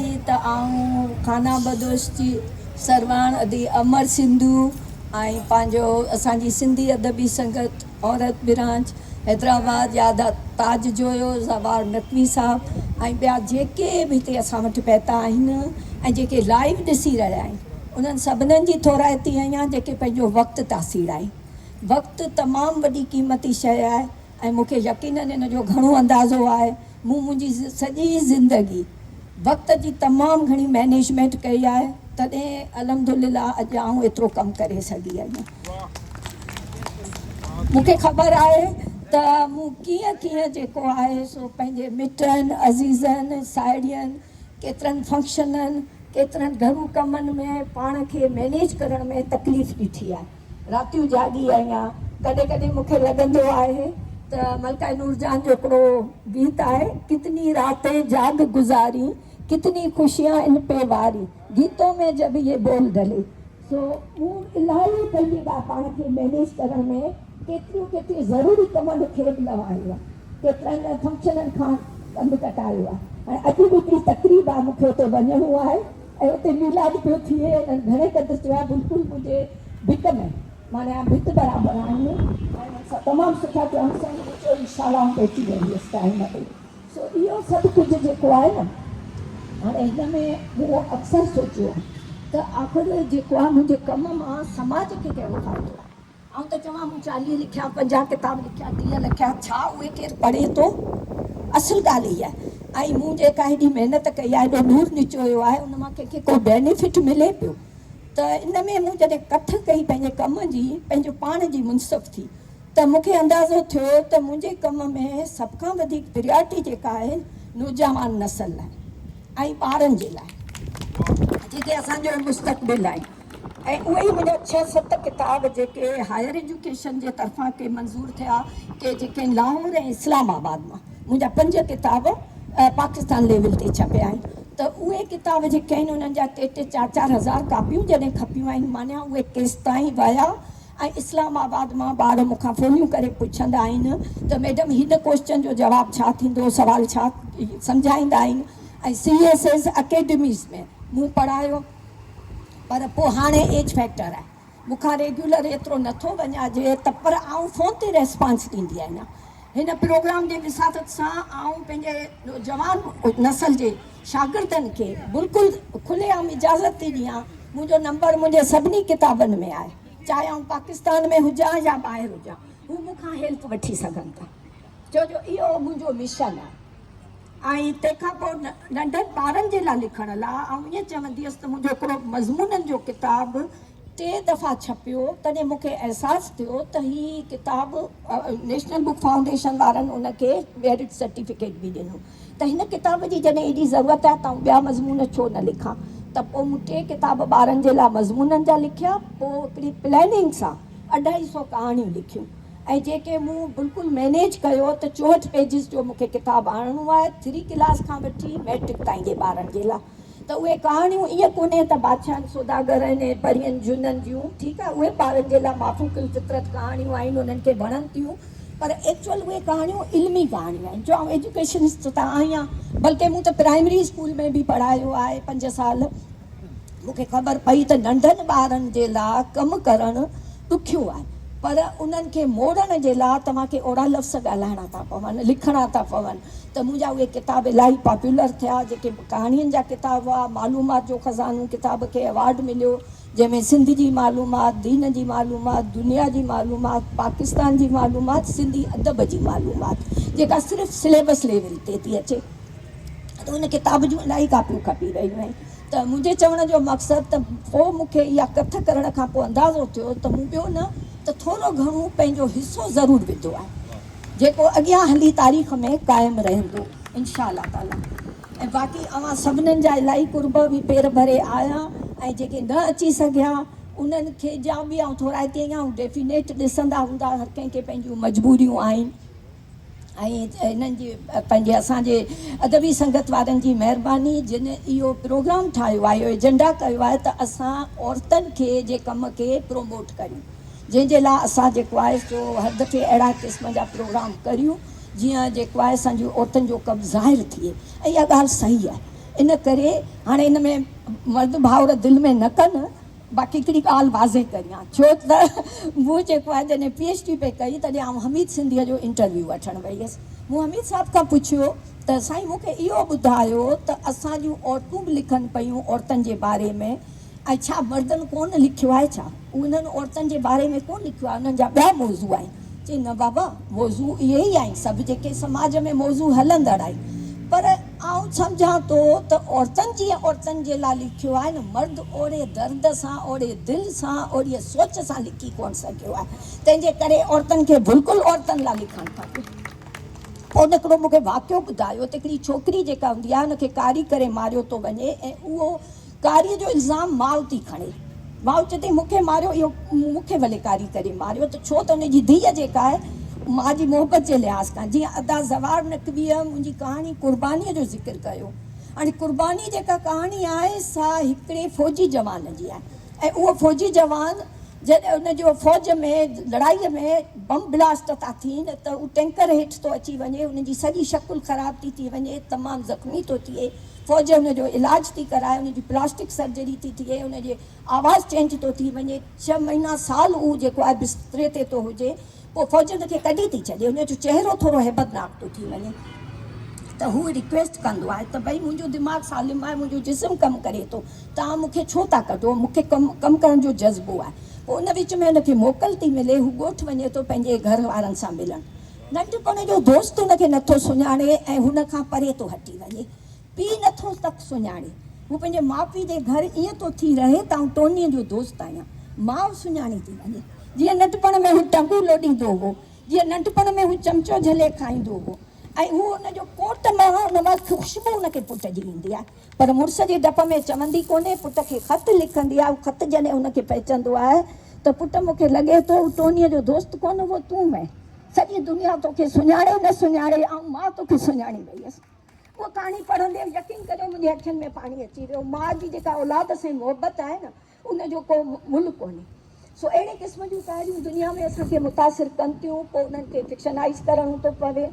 ٿي ته آئون خانه بدوش جي سرواڻ ادي امر سنڌو ۽ پنهنجو اسان جي سنڌي ادبي سنگت عورت برانچ حيدرآباد جا ادا تاج جويو، زوار نقوي صاحب ۽ ٻيا جيڪي به هتي اسان وٽ پهتا آهن ۽ جيڪي لائيو ڏسي رهيا آهن انهن سڀنن جي ٿورائتي ۽ يا جيڪي پنهنجو وقت تاثير آهن. وقت تمام وڏي قيمتي شيء آهي. ۽ مون کي يقينن ان جو گهڻو اندازو آهي. مون منهنجي سڄي زندگي وقت جي تمام گهڻي مئنيجمينٽ ڪئي آهي، تڏهن الحمدلله اڄ آئون ايترو ڪم ڪري سگهي آهيان. مون کي خبر آهي ته مون ڪيئن ڪيئن جيڪو آهي سو پنهنجي مٽن، عزيزن، ساهيڙين، ڪيترن فنڪشنن، ڪيترن گهرو ڪمن ۾ پاڻ کي مئنيج ڪرڻ ۾ تڪليف ڏٺي آهي. راتيون جاڳي آهيان. ڪڏهن ڪڏهن مون کي لڳندو آهي ته ملڪائي نورجهان جو هڪڙو گيت آهي، ڪتني راتين جاڳ گذارين، ڪتني خوشيان ان پي وارين، گيتون مين جب يي بول ڍلي. سو مون الاهي پنهنجي لاء پاڻ کي مينيج ڪرڻ ۾ ڪيتريون ڪيتريون ضروري ڪمن کي به لوايو آهي. ڪيترن ئي فنڪشنن کان ڪنڌ ڪٽايو آهي ۽ اڄ به هڪڙي تقريب آهي مون کي اتي وڃڻو آهي. ۽ اتي ميلاد پيو ٿئي ۽ گهڻي قدر چيا بلڪل منهنجي ڀت ۾ معني آهن ڀت برابر آهن ۽ انهن سان تمام سٺا ٿيا هن سائين جي چئي شالائون پهچي ويون هيس ٽائيم تي سو اهو سڀ ڪجهه جيڪو آهي نه هاڻي هن ۾ مون اڪثر سوچيو ته آخر جيڪو آهي منهنجي ڪم مان سماج کي ڪهڙو فائدو آهي. آئون ته چوان مون چاليهه لکيا، پنجاهه ڪتاب لکيا، ٽيهه لکيا، ڇا اهي ڪير پڙهي ٿو؟ اصل ڳالهه هيء آهي ۽ مون جيڪا هيڏي محنت ڪئي آهي، هيڏو ڏور نچويو آهي، ان مان ڪنهن کي ڪو بينيفٽ ملي پيو ته ان ۾ مون جڏهن ڪٿ ڪئي پنهنجي ڪم جي، پنهنجو پاڻ جي منصف ٿي ته مون کي اندازو ٿيو ته منهنجي ڪم ۾ سڀ کان وڌيڪ پريارٽي جيڪا آهي نوجوان نسل لاء ۽ ٻارن جي لاء جيڪي اسان جو مستقبل آهن. ۽ اهي ئي منهنجا ڇهه ست ڪتاب جيڪي هائير ايجوڪيشن جي طرفان ڪي منظور ٿيا ڪي جيڪي لاهور ۽ اسلام آباد مان منهنجا پنج ڪتاب پاڪستان ليول تي ڇپيا آهن ته اهي ڪتاب جيڪي آهن انهن جا ٽي ٽي چار چار هزار ڪاپيون جڏهن کپيون آهن مانيا اهي ڪيستائين ويا ۽ اسلام آباد مان ٻار مون کان ڦوليون ڪري پڇندا آهن ته ميڊم هن ڪوئسچن جو جواب ڇا ٿيندو سوال ڇا سمجهائيندا آهن ۽ سي ايس ايس اڪيڊميز ۾ مون پڙهايو پر پوء هاڻي ايج فيڪٽر آهي مون کان ريگيولر ايترو نه ٿو وڃان جي ته پر آئون فون تي ريسپانس ڏيندي آهيان هن پروگرام جي وساطت سان آئون پنهنجي نوجوان نسل جي شاگردن کي بلڪل کلي عام اجازت ٿي ڏيان منهنجو نمبر منهنجي سڀني ڪتابن ۾ آهي چاهي آئون پاڪستان ۾ هجان يا ٻاهر هجان هو مون کان هيلپ وٺي سگهن ٿا. ڇو جو اهو منهنجو مشن آهي ۽ تنهن کان پوء ننڍن ٻارن جي لاء لکڻ لاء آئون ائين چوندي هيس ته منهنجو هڪڙو مضمونن جو ڪتاب ٽي دفعا ڇپيو تڏهن مون کي احساس ٿيو ته هي ڪتاب نيشنل بڪ فائونڊيشن وارن ان کي ميرٽ سرٽيفڪيٽ به ڏنو ته هن ڪتاب جي جڏهن ايڏي ضرورت آهي ته آئون ٻيا مضمون ڇو نه لکان ته پوء مون ٽي ڪتاب ٻارن جي لاء مضمونن جا لکيا پوء هڪڙي پلاننگ سان اڍائي سئو ڪهاڻيون لکيون ۽ جيڪي مون بلڪل مينيج ڪيو ته چوهٺ پيجز جو مونکي ڪتاب آڻڻو آهي ٿري ڪلاس کان وٺي ميٽرڪ تائين جي ٻارن جي لا ته اهي ڪهاڻيون ائين ڪونهي ته بادشاهن سوداگرن ۽ پرين جنن جون ٺيڪ آهي اهي ٻارن جي لا مافوق الفطرت ڪهاڻيون آهن انهن کي وڻن ٿيون پر ايڪچوئل اهي ڪهاڻيون علمي ڪهاڻيون آهن جو آئون ايجوڪيشنسٽ ته آهيان بلڪه مون ته پرائمري اسڪول ۾ به پڙهايو آهي پنج سال مون کي خبر پئي ته ننڍن ٻارن جي لا ڪم ڪرڻ ڏکيو آهي پر انهن کي موڙڻ جي لا توهان کي اهڙا لفظ ڳالهائڻا ٿا پون، لکڻا ٿا پون ته منهنجا اهي ڪتاب الاهي پاپيولر ٿيا جيڪي ڪهاڻين جا ڪتاب هئا، معلومات جو خزانو ڪتاب کي ايوارڊ مليو جنهن ۾ سنڌ جي معلومات، دين جي معلومات، دنيا جي معلومات، پاڪستان جي معلومات، سنڌي ادب جي معلومات جيڪا صرف سليبس ليول تي ٿي اچي. ته ان ڪتاب جون الاهي ڪاپيون کپي رهيون آهن ته منهنجي چوڻ جو مقصد ته پوء مون کي اها ڪٿ ڪرڻ کان پوء اندازو ٿيو ته مون ٻيو نه ته ٿورو گهڻو پنهنجو حصو ضرور وڌو آهي جيڪو اڳيان هلي تاريخ ۾ قائم رهندو انشاء الله تعاليٰ ۽ باقي اوهان سڀنن جا الاهي قرب به پير ڀري آيا ۽ جيڪي نه اچي سگهيا انهن کي جا به آئون ٿورائتي ۽ ڊيفينيٽ ڏسندا هوندا هر ڪنهن کي پنهنجيون مجبوريون آهن. ۽ هنن جي پنهنجي اسان جي ادبي سنگت وارن جي مهرباني جن اهو پروگرام ٺاهيو آهي اهو ايجنڊا ڪيو آهي ته اسان عورتن کي جي ڪم کي پروموٽ ڪريون جنهن جي لاء اسان جيڪو آهي سو هر دفعي اهڙا قسم جا پروگرام ڪريون جيئن جيڪو آهي اسان جي عورتن جو ڪم ظاهر ٿئي ۽ اها ڳالهه صحيح آهي ان ڪري هاڻي ان ۾ مرد ڀائور دل ۾ نه ڪن باقي هڪڙي ڳالهه واضح ڪريان ڇو ته مون جيڪو آهي جڏهن پي ايڇ ڊي پئي ڪئي تڏهن آئون حميد سنڌيء جو انٽرويو وٺڻ وئي هيس مون حميد صاحب کان پڇيو ته سائين مون کي اهو ٻڌايو ته اسان جون عورتون به لکن پيون عورتن جي باري ۾ ۽ ڇا مردن ڪونه لکيو آهي ڇا انهن عورتن جي باري ۾ ڪونه لکيو آهي انهن جا ٻيا موضوع آهن. چئي نه بابا موضوع اهي ئي آهن سڀ جيڪي سماج ۾ موضوع هلندڙ آهن پر آئون سمجهان ٿو ته عورتن جيئن عورتن جي لاء لکيو آهي نه مرد اوڙي درد سان اوڙي دل سان اوڙي سوچ سان لکي ڪونه سگهيو آهي تنهن جي ڪري عورتن کي بلڪل عورتن لاء لکڻ کپي پوء ان هڪڙو مونکي واقعو ٻڌايو ته هڪڙي ڇوڪري جيڪا هوندي آهي ان کي ڪاري ڪري ماريو ٿو وڃي ۽ اهو ڪاري جو الزام ماء ٿي کڻي. ماء چئي ٿي مون کي ماريو اهو مون کي ڀلي ڪاري ڪري ماريو ته ڇو ته ان جي ڌيء جيڪا آهي ماء جي محبت جي لحاظ کان جيئن ادا زوار نقويء منهنجي ڪهاڻي قربانيء جو ذڪر ڪيو هاڻي قرباني جيڪا ڪهاڻي آهي سا هڪڙي فوجي جوان جي آهي ۽ اهو فوجي جوان جڏهن ان جو فوج ۾ لڙائي ۾ بم بلاسٽ ٿا ٿين ته هو ٽينڪر هيٺ ٿو اچي وڃي هن جي سڄي شڪل خراب ٿي ٿي وڃي تمام زخمي ٿو ٿئي فوج ان جو علاج ٿي ڪرائي، ان جي پلاسٽڪ سرجري ٿي ٿئي، ان جي آواز چينج ٿو ٿي وڃي، ڇهه مهينا سال هو جيڪو آهي بستري تي ٿو هجي، پوء فوج ان کي ڪڍي ٿي ڇڏي، ان جو چهرو ٿورو هيبتناڪ ٿو ٿي وڃي ته هو ريڪويسٽ ڪندو آهي ته ڀئي منهنجو دماغ سالم آهي، منهنجو جسم ڪم ڪري ٿو، توهان مون کي ڇو ٿا ڪڍو، مون کي ڪم ڪرڻ جو جذبو آهي، پوء ان وچ ۾ ان کي موڪل ٿي ملي، هو ڳوٺ وڃي ٿو پنهنجي گهر وارن سان ملڻ. ننڍپڻ جو دوست هن کي نه ٿو سڃاڻي ۽ هن کان پري ٿو هٽي وڃي. پيء نه ٿو تڪ سڃاڻي. هو پنهنجي ماء پيء جي گهر ائين ٿو ٿي رهي ته آئون ٽونيء جو دوست آهيان. ماء سڃاڻي ٿي وڃي. جيئن ننڍپڻ ۾ هو ٽنگون لوڏيندو هو، جيئن ننڍپڻ ۾ هو چمچو جهلي کائيندو هو ۽ هو ان جو ڪوٽ مان ان وقت خوشبو هن کي پٽ جي ايندي آهي. پر مڙس جي ڊپ ۾ چوندي ڪونهي، پٽ کي خط لکندي آهي، اهو خط جڏهن هن کي پهچندو آهي ته پٽ مون کي لڳي ٿو هو ٽونيء جو دوست ڪونه اهو تون هئين، سڄي دنيا تو کي سڃاڻي نه سڃاڻي آئون ماء تو کي سڃاڻي وئي هيس. اها ڪهاڻي پڙهندي يقين ڪريو منهنجي اکين ۾ پاڻي اچي ويو، ماء جي جيڪا اولاد سان محبت آهي نه ان جو ڪو ملهه ڪونهي. سو اهڙي قسم جون ڪهاڻيون دنيا ۾ اسان کي متاثر ڪن ٿيون، پوء انهن کي فڪشنائيز ڪرڻو ٿو پوي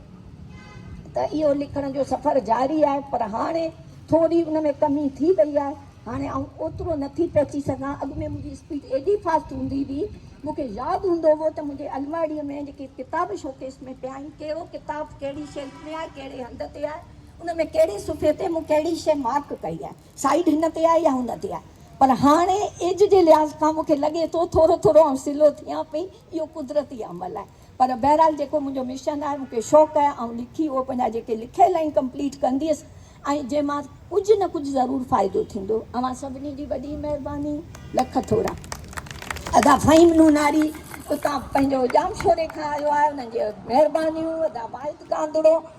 ته اهو لکڻ جو سفر جاري آهي پر هاڻي ٿوري ان ۾ ڪمي ٿي وئي آهي. هاڻي آئون اوترو نه ٿي پهچي سگهان. اڳ ۾ منهنجي اسپيڊ ايڏي فاسٽ هوندي هئي. مون کي ياد هوندو هو ته منهنجي الماڙيء ۾ جيڪي ڪتاب شوڪيس ۾ پيا آهن، ڪهڙو ڪتاب ڪهڙي شيلف ۾ آهي، ڪهڙي هنڌ تي آهي، ان ۾ ڪهڙي صفحي تي مون ڪهڙي شيء مارڪ ڪئي آهي. سائيڊ هن تي آهي يا هن تي آهي پر هاڻي ايج جي لحاظ کان مونکي لڳي ٿو ٿورو ٿورو آئون سلو ٿيان پئي اهو قدرتي عمل آهي پر بهرحال جيڪو منهنجو مشن آهي مونکي شوق آهي آئون لکي اهو پنهنجا جيڪي لکيل آهن ڪمپليٽ ڪنديس ۽ جنهن مان ڪجهه نه ڪجهه ضرور فائدو ٿيندو اوهان سڀني جي وڏي مهرباني لک ٿورا ادا فهيم نوناري اتان پنهنجو ڄامشوري کان آيو آهي انهن جي مهربانيون ادا واحد ڪانڌڙو.